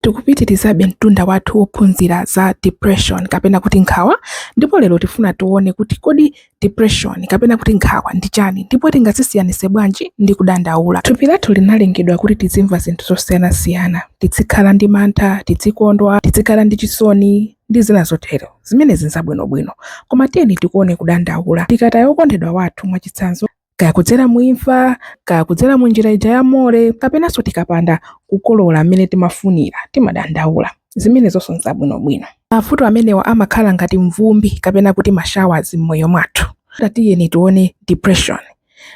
Tikupitirizabe mtunda wathu wophunzira za depression kapena kuti nkhawa ndipo lero tifuna tione kuti kodi depression kapena kuti nkhawa ndi chani ndipo tingazisiyanitse bwanji ndi kudandaula. Thupi lathu linalengedwa kuti tizimva zinthu zosiyanasiyana, tizikhala ndi mantha, tizikondwa, tizikhala ndi chisoni ndi zina zotero. Zimenezi n'zabwinobwino. Koma tiyeni tikuone kudandaula. Tikataya wokondedwa wathu mwachitsanzo, kaya kudzera mu imfa kaya kudzera mu njira ija ya more kapenanso tikapanda kukolola mmene timafunira timadandaula zimenezonso nzabwinobwino mavuto amenewa amakhala ngati mvumbi kapena kuti mashawazi m'moyo mwathu tatiyeni tione depression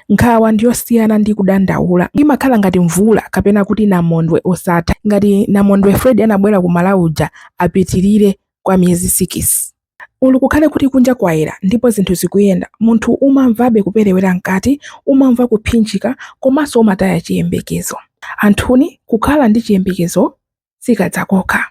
nkhawa ndiyosiyana ndi kudandaula imakhala ngati mvula kapena kuti namondwe osatha ngati namondwe freddy anabwera ku malawi uja apitirire kwa miyezi sikisi Olo kukhale kuti kunja kwayera ndipo zinthu zikuyenda, munthu umamvabe kuperewera mkati, umamva kuphinjika komanso umataya chiyembekezo. Anthuni, kukhala ndi chiyembekezo sikadzakokha.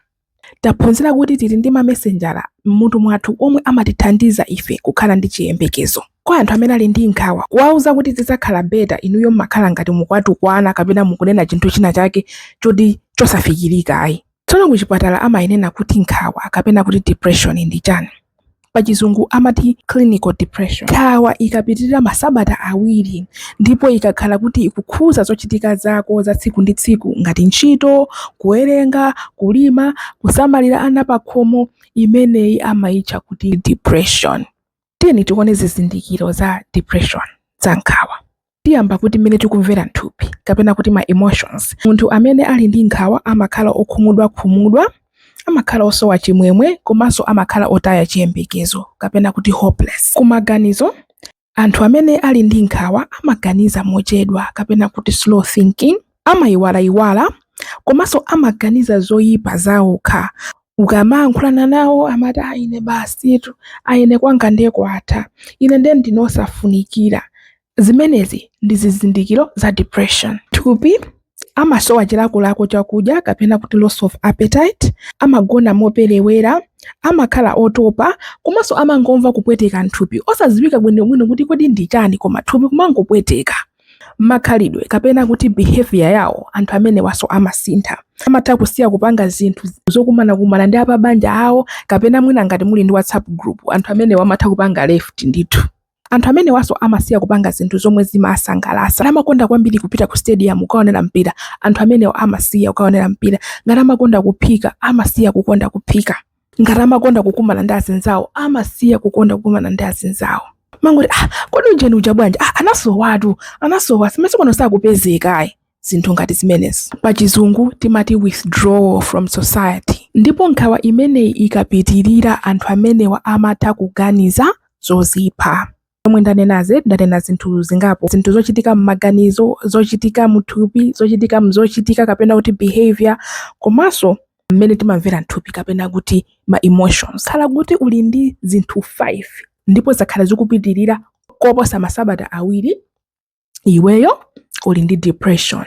Taphunzira kuti tili ndi mamesenjala m'mutu mwathu omwe amatithandiza ife kukhala ndi chiyembekezo. Kwa anthu amene ali ndi nkhawa, kuwauza kuti zidzakhala better inuyo mmakhala ngati mukuwatukwana kapena mukunena chinthu china chake choti chosafikirika ayi. Tsono kuchipatala amainena kuti nkhawa kapena kuti depression ndi chani? Pachizungu amati clinical depression. Nkhawa ikapitirira masabata awiri ndipo ikakhala kuti ikukhuza zochitika zako za tsiku ndi tsiku ngati ntchito, kuwerenga, kulima, kusamalira ana pakhomo, imeneyi amaitcha kuti depression. Tiyeni tione zizindikiro za depression, za nkhawa. tiyamba kuti mmene tikumvera mthupi kapena kuti ma emotions munthu amene ali ndi nkhawa amakhala okhumudwakhumudwa amakhala osowa chimwemwe komanso amakhala otaya chiyembekezo kapena kuti hopeless kumaganizo anthu amene ali ndi nkhawa amaganiza mochedwa kapena kuti slow thinking amayiwalayiwala komanso amaganiza zoyipa zawokha. Ukamayankhulana nawo amati a ine basitu, a ine kwanga ndiye kwatha, ine ndiye ndine osafunikira. Zimenezi ndi zizindikiro za depression. Thupi, Amasowa chilakolako chakudya kapena kuti loss of appetite, amagona moperewera, amakhala otopa komanso amangomva kupweteka m'thupi osadziwika bwinobwino kuti kodi ndi chani koma thupi kumangopweteka. makhalidwe kapena kuti behavior yawo anthu amenewanso amasintha amatha kusiya kupanga zinthu zokumanakumana ndi apabanja awo kapena mwina ngati muli ndi whatsapp group anthu amenewa amatha kupanga left ndithu anthu amenewanso amasiya kupanga zinthu zomwe zimawasangalatsa ngati amakonda kwambiri kupita ku stadium kukaonera mpira anthu amenewa amasiya kukaonera mpira ngati amakonda kuphika amasiya kukonda kuphika ngati amakonda kukumana ndi azinzawo amasiya kukonda kukumana ndi azinzawo mumangoti ah, kodi ujeni uja bwanji ah, anasowatu anasowa masiku ano sakupezekayi zinthu ngati zimenezi pa chizungu timati withdrawal from society ndipo nkhawa imeneyi ikapitirira anthu amenewa amatha kuganiza zozipha zomwe ndanenazi ndanena zinthu zingapo zinthu zochitika m'maganizo zochitika mthupi zochitika mzochitika kapena kuti behavior komanso mmene timamvera mthupi kapena kuti ma emotions khala kuti uli ndi zinthu 5 ndipo zakhala zikupitirira koposa masabata awiri iweyo uli ndi depression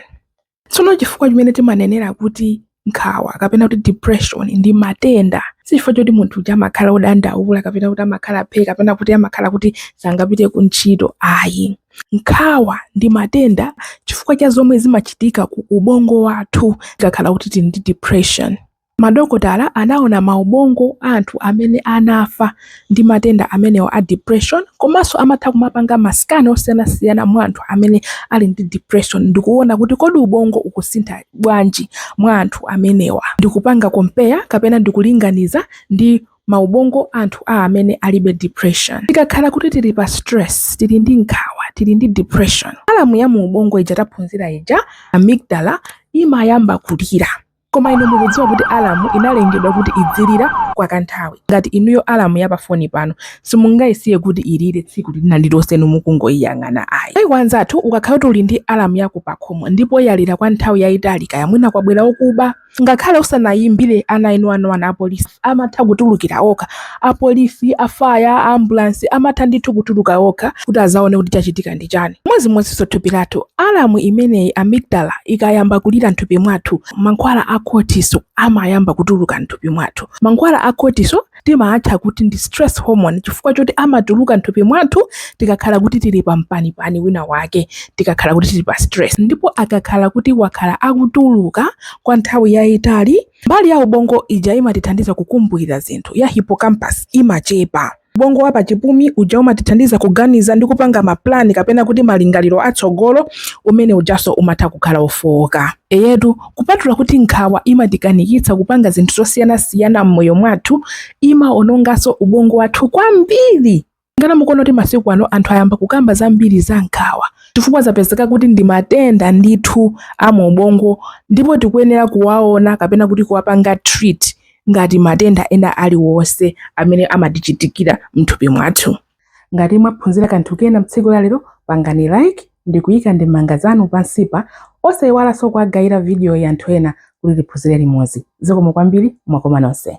tsono chifukwa chimene timanenera kuti nkhawa kapena kuti depression ndi matenda sichifukwa choti munthu uja amakhala odandaula kapena kuti amakhala phe kapena kuti amakhala kuti sangapite ku ntchito ayi nkhawa ndi matenda chifukwa cha zomwe zimachitika ku ubongo wathu tikakhala kuti tili ndi depression Madokotala anaona maubongo a anthu amene anafa ndi matenda amenewa a depression komanso amatha kumapanga ma scan osiyanasiyana mwa anthu amene ali ndi depression ndi kuona kuti kodi ubongo ukusintha bwanji mwa anthu amenewa ndi kupanga compare kapena ndi kulinganiza ndi maubongo a anthu a amene alibe depression. Tikakhala kuti tili pa stress, tili ndi nkhawa, tili ndi depression, alamu ya muubongo ija taphunzira ija, amygdala, imayamba kulira. Koma inu mukudziwa kuti alamu inalengedwa kuti idzilira kwa kanthawi. Ngati inuyo alamu ya pafoni panu simungaisiye kuti ilire tsiku lina lililonse inu mukungoiyang'ana ayi. Mayiko anzathu ukakhala kuti uli ndi alamu yako pakhomo ndipo yalira kwa nthawi yaitali kaya mwina kwabwera okuba, ngakhale usanaimbire ananinani apolisi, amatha kutulukira okha, apolisi, a fire, a ambulance amatha ndithu kutuluka okha kuti azaone kuti chachitika ndi chani. Chimodzimodzinso thupi lathu, alarm imeneyi, amygdala, ikayamba kulira nthupi mwathu, mankhwala a cortisol amayamba kutuluka nthupi mwathu. Mankhwala a cortisol timaatcha kuti ndi stress hormone chifukwa choti amatuluka nthupi mwathu tikakhala kuti tili pa mpanipani wina wake, tikakhala kuti tili pa stress. Ndipo akakhala kuti wakhala akutuluka kwa nthawi yaitali, Mbali ya ubongo ija imatithandiza kukumbukira zinthu, ya hippocampus, imachepa. Ubongo wa pachipumi uja umatithandiza kuganiza ndi kupanga mapulani kapena kuti malingaliro atsogolo, umeneujanso umatha kukhala wofooka. Eyetu, kupatula kuti nkhawa imatikanikitsa kupanga zinthu zosiyanasiyana m'moyo mwathu, imawononganso ubongo wathu kwambiri. Ngati mukuona kuti masiku ano anthu ayamba kukamba zambiri za nkhawa chifukwa zapezeka kuti ndi matenda ndithu a mu ubongo ndipo tikuyenera kuwaona kapena kuti kuwapanga treat ngati matenda ena aliwonse amene amatichitikira mthupi mwathu. Ngati mwaphunzira kanthu kena mtsiku la lero, pangani like ndi kuyika ndemanga zanu pansipa. Osayiwalanso kuwagayira vidiyoyi anthu ena kuti tiphunzire limodzi. Zikomo kwambiri, mwakoma nonse.